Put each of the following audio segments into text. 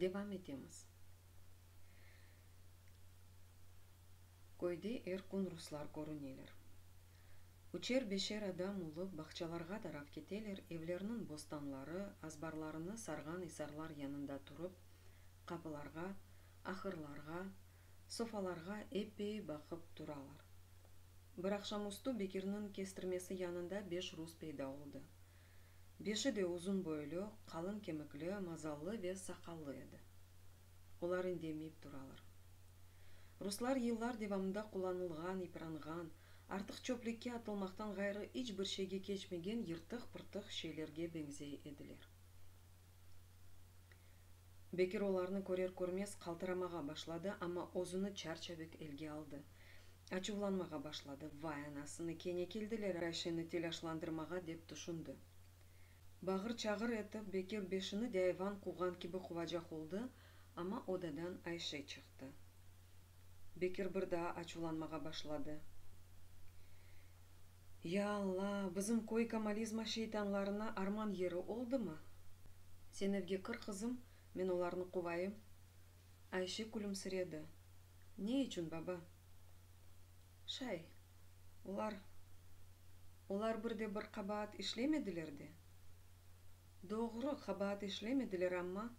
Devam etemiz. Köyde er kün ruslar körüneler. Üçer-beşer adam olıp, bağçalarğa taraf keteler, evlerniñ bostanları, azbarlarını sarğan isarlar yanında turıp, qapılarğa, ahırlarğa, sofalarğa epey baqıp turalar. Bir aqşamüstü Bekirniñ kestirmesi yanında beş rus peyda oldı. Beşi de uzun boylu, qalın kemikli, mazallı ve saqallı edi. Olar indemeyip turalar. Ruslar yıllar devamında qullanılğan, yıpranğan, artıq çöplikke atılmaqtan ğayrı iç bir şeyge keçmegen yırtıq-pırtıq şeylerge beñzey ediler. Bekir olarnı körer-körmez qaltıramağa başladı, amma özüni çarçabek elge aldı. Açuvlanmağa başladı. Vay, anasını, kene keldiler Ayşeni telâşlandırmağa, dep tüşündi. Bağır-çağır etip, Bekir beşini de ayvan quvğan kibi quvacaq oldı, amma odadan Ayşe çıqtı. Bekir bir daa açuvlanmağa başladı. Ya Alla, bizim köy kamalizma şeytanlarına arman yeri oldımı? Sen evge kir, qızım, men olarnı quvayım. Ayşe külümsiredi. Ne içün, baba? Şay, olar, olar bir de bir qabaat işlemediler de. Doğru, qabaat işlemediler, amma.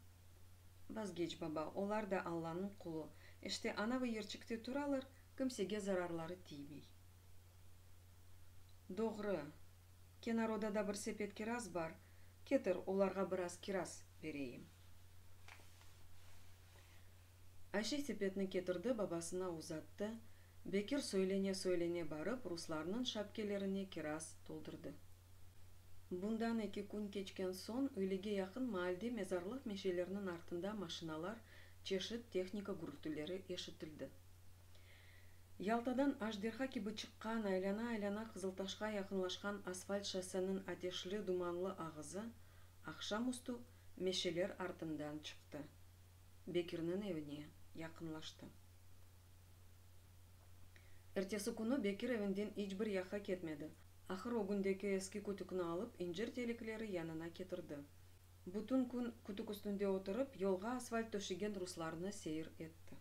Vazgeç, baba, olar da Allanıñ qulı, işte, anavı yerçikte turalar, kimsege zararları tiymey. Doğru. Kenarodada bir sepet kiraz bar, ketir, olarğa biraz kiraz bereyim. Ayşe sepetni ketirdi, babasına uzattı. Bekir söylene-söylene barıp, ruslarnıñ şapkelerine kiraz toldurdı. Bundan eki kün keçken soñ, öğlege yaqın maalde mezarlıq meşelerniñ artında maşinalar, çeşit tehnika gürültüleri eşitildi. Yaltadan ajderha kibi çıqqan, aylana-aylana Qızıltaşqa yaqınlaşqan asfalt şossenıñ ateşli, dumanlı ağızı aqşam üstü meşeler artından çıqtı, Bekirniñ evine yaqınlaştı. Ertesi künü Bekir evinden iç bir yaqqa ketmedi, ahır ögündeki eski kütükni alıp, incir telikleri yanına ketirdi. Bütün kün kütük üstünde oturıp, yolğa asfalt töşegen ruslarnı seyir etti.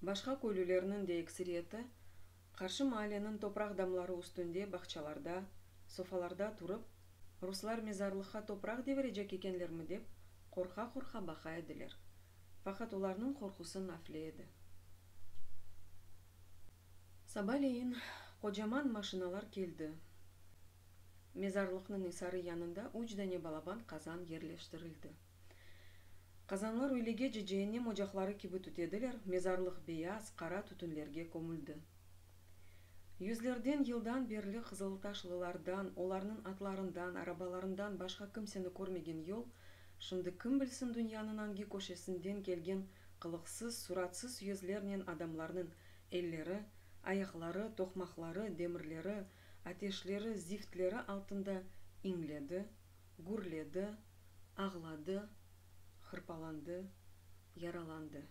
Başqa köylülerniñ de ekseriyeti qarşı maalleniñ topraq damları üstünde bağçalarda, sofalarda turıp, ruslar mezarlıqqa topraq devirecek ekenlermi dep, qorqa-qorqa baqa ediler. Faqat olarnıñ qorqusı nafile edi. Sabaleyin qocaman maşinalar keldi. Mezarlıqnıñ isarı yanında üç dane balaban qazan yerleştirildi. Qazanlar öylege-ce cehennem ocaqları kibi tütediler, mezarlıq beyaz, qara tütünlerge kömüldi. Yüzlerden yıldan berli qızıltaşlılardan, olarnıñ atlarından, arabalarından başqa kimseni körmegen yol, şimdi kim bilsin dünyanıñ angi köşesinden kelgen qılıqsız, suratsız yüzlernen adamlarnıñ elleri, ayaqları, toqmaqları, demirleri, Ateşleri ziftleri altında iñledi, gürledi, ağladı, hırpalandı, yaralandı.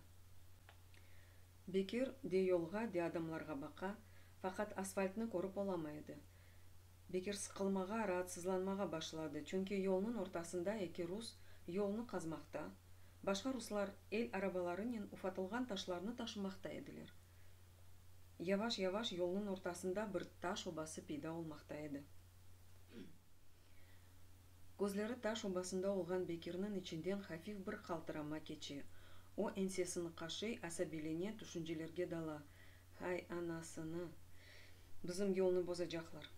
Bekir de yolğa, de adamlarğa baqa, faqat asfaltnı körip olamay edi. Bekir sıqılmağa, raatsızlanmağa başladı, çünki yolnıñ ortasında eki rus yolnı qazmaqta, başqa ruslar el arabalarınen ufatılğan taşlarnı taşımaqta ediler. Yavaş-yavaş yolnıñ ortasında bir taş obası peyda olmaqta edi. Közleri taş obasında olğan Bekirniñ içinden hafif bir qaltırama keçe. O ensesini qaşıy, asabiylene, tüşüncelerge dala, Hay, anasını! Bizim yolnı bozacaqlar.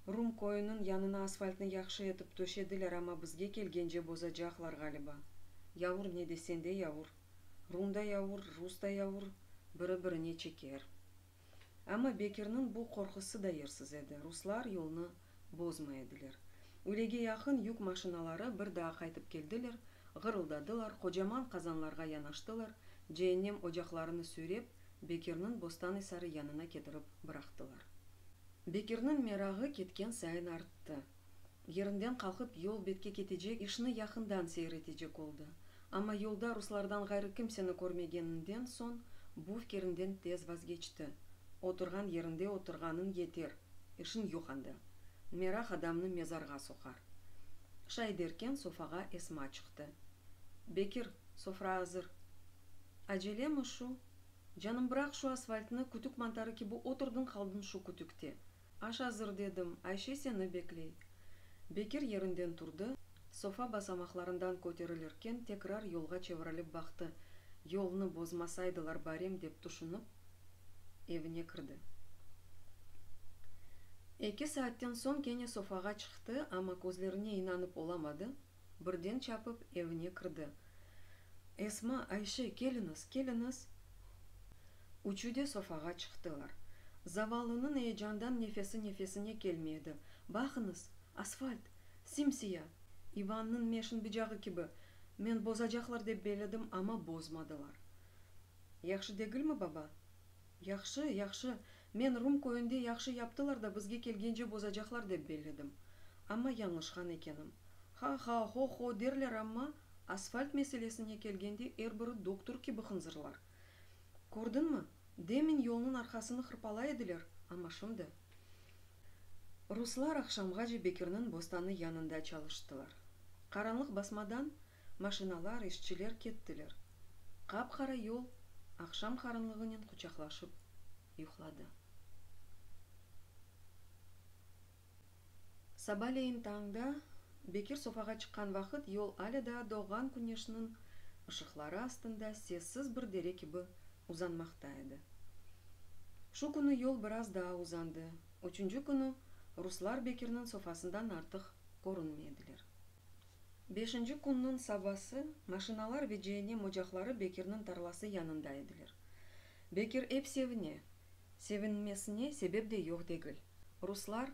Rum köyüniñ yanına asfaltnı yahşı etip töşediler, amma bizge kelgence bozacaqlar, ğaliba. Yavur, ne desen de yavur. Rum da yavur, rus da yavur, biri-birine çeker. Amma Bekirniñ bu qorqusı da yersiz edi, ruslar yolnı bozmay ediler. Ülege yaqın yük maşinaları bir daa qaytıp keldiler, ğırıldadılar, qocaman qazanlarğa yanaştılar, ceennem ocaqlarını süyrep, Bekirniñ Bostanıysarı yanına ketirip bıraqtılar. Bekirniñ merağı ketken sayın arttı. Yerinden qalqıp yol betke ketecek işni yaqından seyir etecek oldı. Amma yolda ruslardan ğayrı kimseni körmegeninden soñ bu fikirinden tez vazgeçti. Oturğan yerinde oturğanıñ yeter, işiñ yoq anda. Meraq adamnı mezarğa soqar. Şay derken sofağa Esma çıqtı. Bekir, sofra azır. Acelemi şu? Canım, bıraq şu asfaltnı, kütük mantarı kibi oturdıñ qaldıñ şu kütükte. Aş azır, dedim, Ayşe seni bekley. Bekir yerinden turdı, sofa basamaqlarından köterilirken tekrar yolğa çevirilip baqtı, yolnı bozmasaydılar barem dep tüşünip, evine kirdi. Eki saatten soñ kene sofağa çıqtı, amma közlerine inanıp olamadı, birden çapıp evine kirdi. Esma, Ayşe, keliñiz, keliñiz! Üçü de sofağa çıqtılar. Zavallınıñ eyecandan nefesi nefesine kelmey edi. Baqıñız, asfalt! Sim-siya! İvannıñ meşin bıcağı kibi! Men bozacaqlar dep beledim, amma bozmadılar. Yahşı degilmi, baba? Yahşı, yahşı, Men Rum köyünde yahşı yaptılar da bizge kelgence bozacaqlar dep belledim. Amma yañlışqan ekenim. Ha-ha, ho-ho derler amma, asfalt meselesine kelgende er biri doktor kibi hınzırlar. Kördiñmi, demin yolnıñ arqasını hırpalay ediler, amma şimdi. Ruslar aqşamğace Bekirniñ bostanı yanında çalıştılar. Qaranlıq basmadan, Maşinalar, işçiler kettiler. Qap-qara yol aqşam qarınlığınen quçaqlaşıp yuqladı. Sabaleyin tañda Bekir sofağa çıqqan vaqıt yol alâ daa doğğan küneşniñ ışıqları astında sessiz bir dere kibi uzanmaqta edi. Şu künü yol biraz daa uzandı, üçünci künü ruslar Bekirniñ sofasından artıq körünmediler. Beşinci künniñ sabası maşinalar ve cehennem ocaqları Bekirniñ tarlası yanında ediler. Bekir ep sevine. Sevinmesine sebep de yoq degil. Ruslar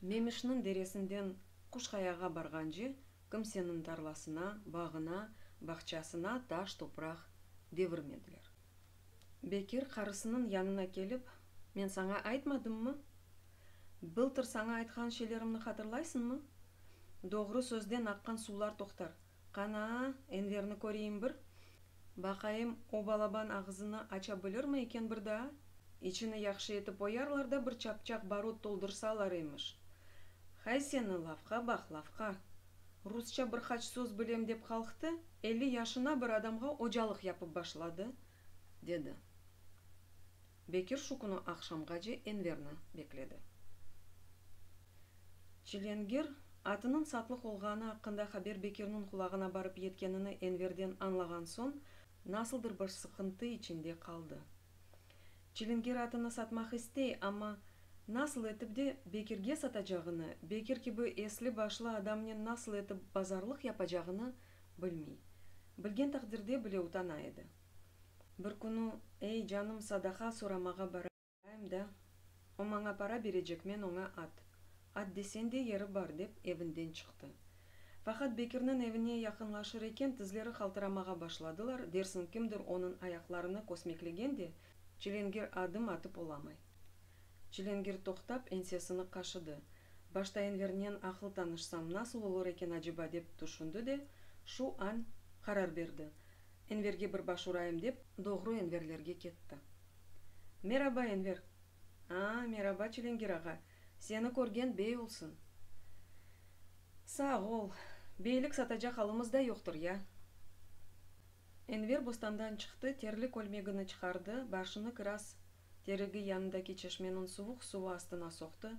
Memişniñ deresinden Quşqayağa barğance kimseniñ tarlasına, bağına, bağçasına taş, topraq devirmediler. Bekir qarısınıñ yanına kelip, Men saña aytmadımmı? Bıltır saña aytqan şeylerimni hatırlaysıñmı? Doğru sözden aqqan suvlar toqtar. Qanaa, Enverni köreyim bir. Baqayım, o balaban ağızını aça bilirmi eken bir daa? İçini yahşı etip oyarlar da bir çapçaq barut toldırsalar emiş. Hay seni, lafqa baq, lafqa! Rusça bir qaç söz bilem dep qalqtı, elli yaşına bir adamğa ocalıq yapıp başladı, dedi. Bekir şu künü aqşamğace Enverni bekledi. Çilengir atınıñ satlıq olğanı aqqında haber Bekirniñ qulağına barıp yetkenini Enverden añlağan soñ, nasıldır bir sıqıntı içinde qaldı. Çilingir atını satmaq istey, amma nasıl etip de Bekirge satacağını, Bekir kibi esli-başlı adamnen nasıl etip bazarlıq yapacağını bilmey. Bilgen taqdirde bile utana edi. Bir künü, ey, canım, sadaqa soramağa barayım da, o maña para berecek, men oña at, at desen de yeri bar, dep evinden çıqtı. Faqat Bekirniñ evine yaqınlaşır eken, tizleri qaltıramağa başladılar, dersiñ kimdir onıñ ayaqlarını kösmeklegen de, Çilingir adım atıp olamay. Çilingir toqtap, ensesini qaşıdı. Başta envernen aqıl tanışsam, nasıl olur eken aceba, dep tüşündi de, şu añ qarar berdi, Enverge bir baş urayım dep, doğru Enverlerge ketti. Meraba, Enver! Aa, meraba, Çilingir ağa! Seni körgen bey olsun! Sağ ol! Beylik satacaq alımız da yoqtır, ya! Enver bostandan çıqtı, terli kölmegini çıqardı, başını kiraz terigi yanındaki çeşmeniñ suvuq suvu astına soqtı,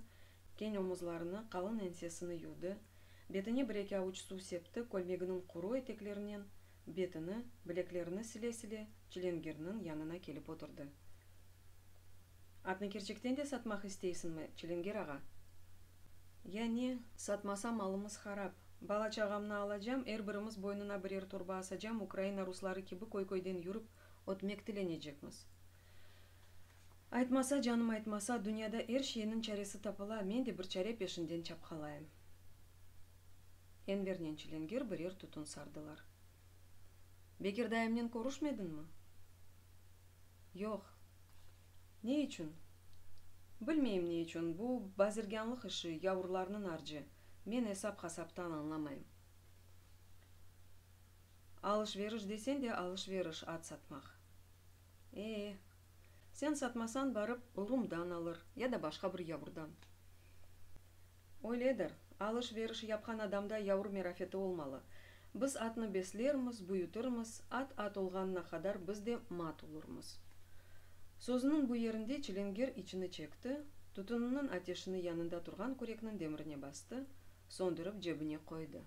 keñ omuzlarını, qalın ensesini yuvdı, betine bir-eki avuç suv septi, kölmeginiñ quru eteklerinen Betini, bileklerini sile-sile Çilingirniñ yanına kelip oturdı. Atnı kerçekten de satmaq isteysiñmi, Çilingir ağa? Ya ne? Satmasam, malımız harap. Bala-çağamnı alacam, er birimiz boynuna birer torba asacam, Ukraina rusları kibi köy-köyden yürip ötmek tilenecekmiz. Aytmasa, canım, aytmasa, dünyada er şeyniñ çaresi tapıla, men de bir çare peşinden çapqalayım. Envernen Çilenger birer tütün sardılar. Bekir dayımnen körüşmedinmi? Yoq. Ne içün? Bilmeyim ne içün, bu bazirgânlıq işi, yavrularnıñ arcı, men esap-hasaptan añlamayım. Alış-veriş desen de alış-veriş, at satmaq. Ee, sen satmasan barıp Rumdan alır ya da başqa bir yavurdan. Öyledir, alış-veriş yapqan adamda yavur merafeti olmalı. Biz atnı beslermiz, büyütirmiz, at at olğanına qadar biz de mat olurmız. Sözüniñ bu yerinde çilingir içini çekti, tütüniniñ ateşini yanında turğan kürekniñ demirine bastı, söndürip cebine qoydı.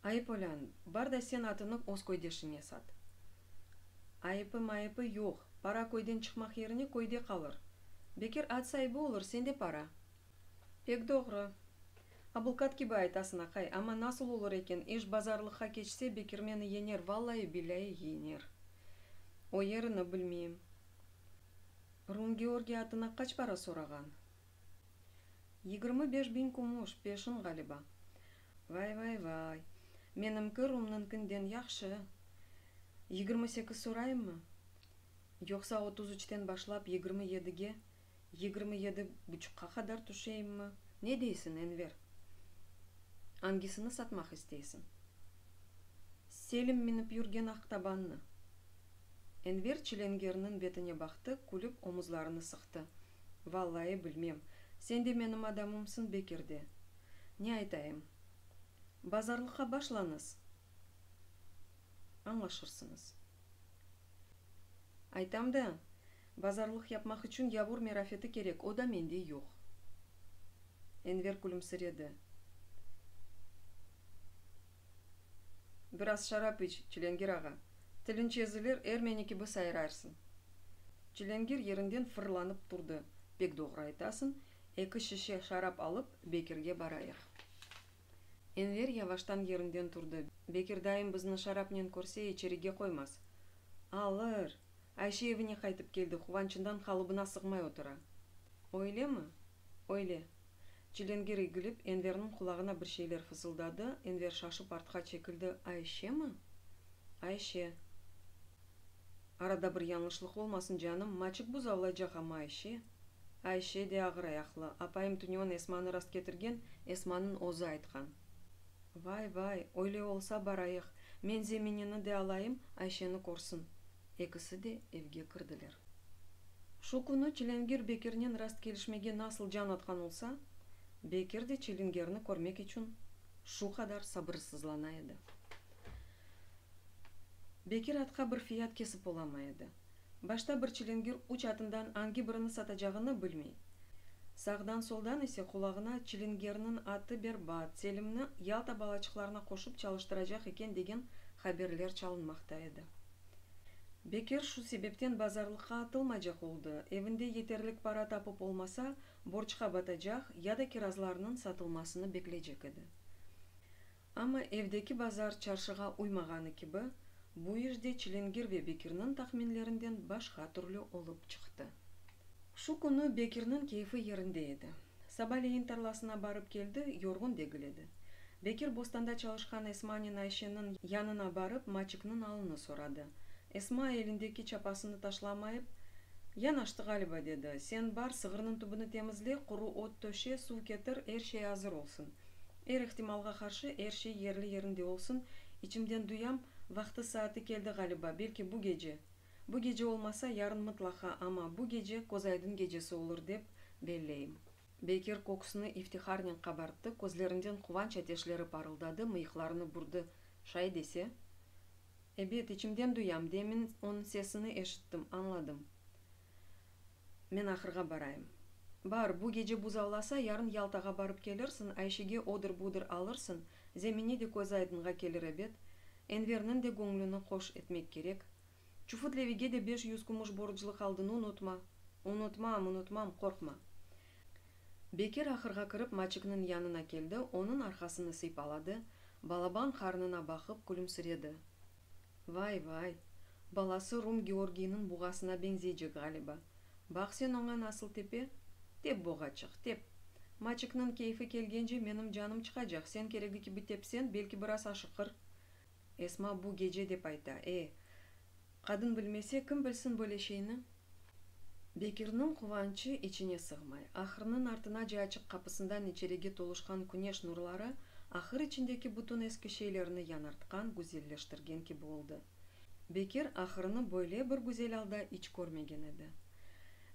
Ay, polân, bar da sen atını öz köydeşiñe sat. Ayıpı, mayıpı yoq, para köyden çıqmaq yerine köyde qalır. Bekir at saibi olur, sende para. Pek doğru. Abılqat kibi aytasın, aqay, amma nasıl olur eken, iş bazarlıqqa keçse, Bekir meni yener, vallayi, billâyi yener. O yerini bilmeyim. Rum Georgiy atına qaç para sorağan? Yigirmi beş biñ kümüş, peşin ğaliba. Vay-vay-vay! Menimki Rumnıñkinden yahşı. Yigirmi sekiz sorayımmı? Yoqsa otuz üçten başlap yigirmi yedige, yigirmi yedi buçuqqa qadar tüşeyimmi? Ne deysiñ, Enver? Angisini satmaq isteysiñ? Selim minip yürgen aq tabannı. Enver Çilengerniñ betine baqtı, külip omuzlarını sıqtı. Vallayı bilmem. Sen de menim adamımsıñ be kirde. Ne aytayım? Bazarlıqqa başlañız, añlaşırsıñız. Aytam da, bazarlıq yapmaq içün yavur merafeti kerek, o da mende yoq. Enver külümsiredi. Biraz şarap iç, Çilengir ağa, tilinç ezilir, ermeni kibi sayrarsıñ. Çilengir yerinden fırlanıp turdı. Pek doğru aytasıñ, eki şişe şarap alıp, Bekirge barayıq. Enver yavaştan yerinden turdı. Bekir dayım bizni şarapnen körse, içerige qoymaz. Alır! Ayşe evine qaytıp keldi, quvançından qalıbına sığmay otura. Öylemi? Öyle. Cilengir egilip, Enverniñ qulağına bir şeyler fısıldadı, Enver şaşıp artqa çekildi, Ayşemi? Ayşe. Arada bir yañlışlıq olmasın, canım, maçık buzavlaycaq amma Ayşe. Ayşe de ağır ayaqlı, apayım tünyon Esmanı rastketirgen, Esmanıñ özü aytqan. Vay, vay, öyle olsa barayıq, men Zeminini de alayım, Ayşeni körsin. Ekisi de evge kirdiler. Şu künü Çilingir Bekirnen rastkelişmege nasıl can atqan olsa, Bekir de Çilingirni körmek içün şu qadar sabırsızlana edi. Bekir atqa bir fiyat kesip olamay edi. Başta bir Çilingir üç atından angi birini satacağını bilmey. Sağdan-soldan ise qulağına Çilingirniñ atı berbat, Selimni Yalta balaçıqlarına qoşıp çalıştıracaq eken degen haberler çalınmaqta edi. Bekir şu sebepten bazarlıqqa atılmaycaq oldı, evinde yeterlik para tapıp olmasa, borçqa batacaq ya da kirazlarnıñ satılmasını bekleycek edi. Amma evdeki bazar çarşığa uymağanı kibi, bu iş de Çilingir ve Bekirniñ tahminlerinden başqa türlü olıp çıqtı. Şu künü Bekirniñ keyfi yerinde edi. Sabaleyin tarlasına barıp keldi, yorğun degil edi. Bekir bostanda çalışqan Esmanen Ayşeniñ yanına barıp maçıknıñ alını soradı. Esma elindeki çapasını taşlamayıp, Yanaştı ğaliba, dedi, sen bar, sığırnıñ tübüni temizle, quru ot töşe, suv ketir, er şey azır olsun. Er ihtimalğa qarşı er şey yerli-yerinde olsun, içimden duyam, vaqtı-saatı keldi ğaliba, belki bu gece. Bu gece olmasa, yarın mıtlaqa, amma bu gece Közaydın gecesi olur dep belleyim. Bekir köksüni iftiharnen qabarttı, közlerinden quvanç ateşleri parıldadı, mıyıqlarını burdı, Şay dese? Ebet, içimden duyam, demin onıñ sesini eşittim, añladım. Men ahırğa barayım. Bar, bu gece buz allasa, yarın Yaltağa barıp kelirsin, Ayşege odır-budır alırsın, Zemine de közü aydınğa kelir ebet, Enverniñ de göñlüni hoş etmek kerek. Çufut-Levige de beş yüz kümüş borclu qaldın, unutma. Unutmam, unutmam, qorqma. Bekir ahırğa kirip Maçikniñ yanına keldi, onıñ arqasını sıypaladı, balaban qarnına baqıp külümsiredi. Vay, vay, balası Rum Georgiyniñ buğasına beñzeycek ğaliba. Baq sen oña nasıl tepe? Tep, boğaçıq, tep! Maçikniñ keyfi kelgence menim canım çıqacaq, sen keregi kibi tepsen, belki biraz aşıqır. Esma bu gece dep ayta. E, qadın bilmese, kim bilsin böyle şeyni? Bekirniñ quvançı içine sığmay. Ahırnıñ artınace açıq qapısından içerige toluşqan küneş nurları ahır içindeki bütün eski şeylerni yanartqan, güzelleştirgen kibi oldı. Bekir ahırnı böyle bir güzel alda iç körmegen edi.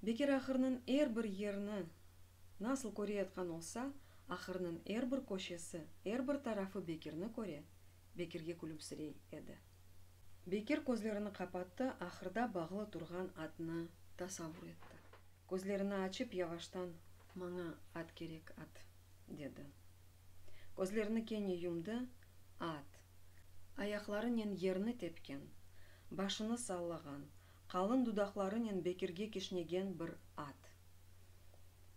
Bekir ahırnıñ er bir yerini nasıl köreyatqan olsa, ahırnıñ er bir köşesi, er bir tarafı Bekirni köre, Bekirge külümsirey edi. Bekir közlerini qapattı, ahırda bağlı turğan atnı tasavur etti. Közlerini açıp, yavaştan. Maña at kerek, at! dedi. Közlerini kene yumdı, at, ayaqlarınen yerni tepken, başını sallağan, qalın dudaqlarınen Bekirge kişnegen bir at.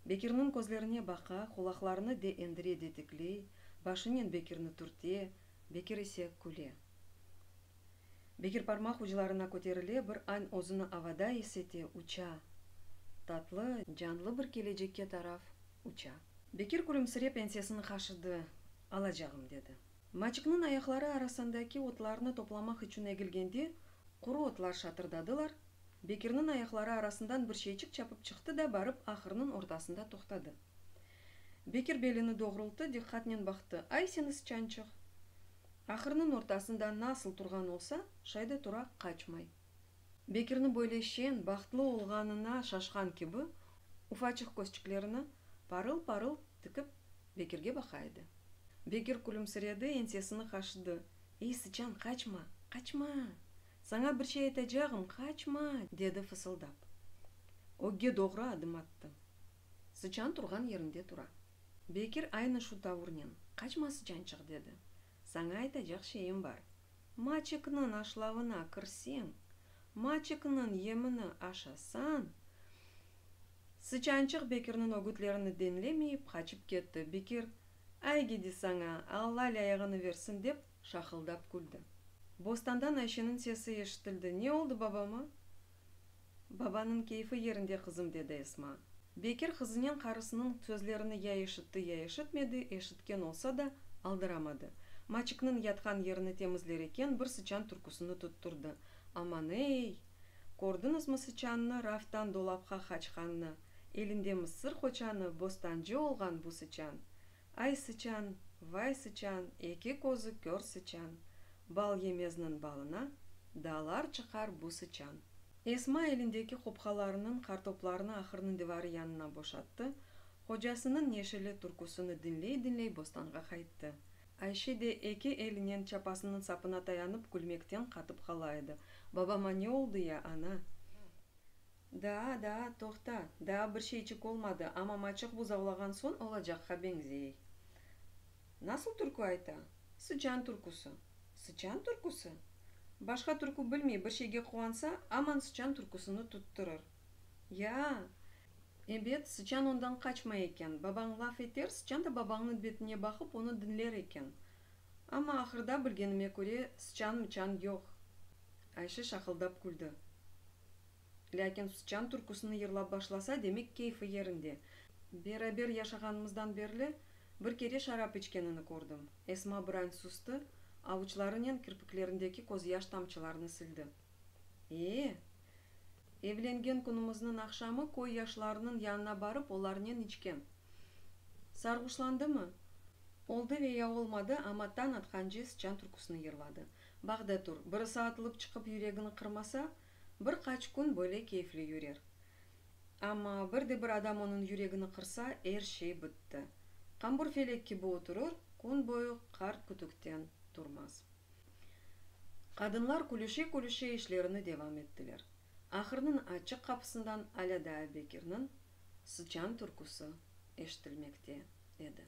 Bekirniñ közlerine baqa, qulaqlarını de endire-detikley, başınen Bekirni turte, Bekir ise küle. Bekir parmaq uclarına köterile, bir añ özüni avada is ete, uça. Tatlı, canlı bir kelecekke taraf uça. Bekir külümsirep ensesini qaşıdı, alacağım, dedi. Maçıknıñ ayaqları arasındaki otlarnı toplamaq içün egilgende, quru otlar şatırdadılar, Bekirniñ ayaqları arasından bir şeyçik çapıp çıqtı da barıp ahırnıñ ortasında toqtadı. Bekir belini doğrulttı, diqqatnen baqtı. Ay seni sıçançıq! Ahırnıñ ortasında nasıl turğan olsa, şayda tura, qaçmay. Bekirniñ böyle şeñ, bahtlı olğanına şaşqan kibi, ufaçıq közçiklerini parıl-parıl tikip, Bekirge baqa edi. Bekir külümsiredi, ensesini qaşıdı. Ey, sıçan, qaçma! Qaçma! Saña bir şey aytacağım, qaçma! dedi fısıldap. Ögge doğru adım attı. Sıçan turğan yerinde tura. Bekir aynı şu tavurnen, Qaçma, sıçançıq, dedi. Saña aytacaq şeyim bar. Maçıknıñ aşlavına kirseñ, maçıknıñ yemini aşasañ! Sıçançıq Bekirniñ ögütlerini diñlemeyip, qaçıp ketti. Bekir, Ay gidi saña, Alla lâyığını versin, dep, şaqıldap küldi. Bostandan Ayşeniñ sesi eşitildi, Ne oldı babama? Babanıñ keyfi yerinde, qızım, dedi Esma. Bekir qızınen qarısınıñ sözlerini ya eşitti, ya eşitmedi, eşitken olsa da, aldıramadı. Maçıknıñ yatqan yerini temizler eken, bir sıçan türküsini tutturdı. Aman-ey! Kördiñizmi sıçannı, raftan dolapqa qaçqannı? Elinde mısır qoçanı, bostancı olğan bu sıçan! Ay sıçan, vay sıçan, eki közü kör sıçan, Bal yemezniñ balına, dağlar çıqar bu sıçan. Esma elindeki qopqalarınıñ qartoplarını ahırnıñ divarı yanına boşattı, qocasınıñ neşeli türküsini diñley-diñley bostanğa qayttı. Ayşe de eki elinen çapasınıñ sapına tayanıp külmekten qatıp qala edi, Babama ne oldı ya, ana? Daa, daa, toqta, daa bir şeyçik olmadı, amma maçıq buzavlağan soñ olacaqqa beñzey. Nasıl türkü ayta? Sıçan türküsi. Sıçan türküsi? Başqa türkü bilmey, bir şeyge quvansa, aman sıçan türküsini tuttırır. Ya-a! Ebet, sıçan ondan qaçmay eken. Babañ laf eter, sıçan da babañnıñ betine baqıp, onı diñler eken. Amma ahırda, bilgenime köre, sıçan-mıçan yoq. Ayşe şaqıldap küldi. Lâkin Sıçan türküsini yırlap başlasa, demek keyfi yerinde. Beraber yaşağanımızdan berli bir kere şarap içkenini kördim. Esma birañ sustı, avuçlarınen kirpiklerindeki közyaş tamçılarını sildi. Ee? Evlengen künümizniñ aqşamı köy yaşlarınıñ yanına barıp olarnen içken. Sarğuşlandımı? Oldı ve ya olmadı, amma tañ atqance Sıçan türküsini yırladı. Baq da tur, birisi atılıp çıqıp yüregini qırmasa, Bir qaç kün böyle keyfli yürer. Amma bir de bir adam onıñ yüregini qırsa, er şey bitti. Qambur felek kibi oturır, kün boyu qart kütükten turmaz. Qadınlar külüşe-külüşe işlerini devam ettiler. Ahırnıñ açıq qapısından alâ daa Bekirniñ sıçan türküsi eşitilmekte edi.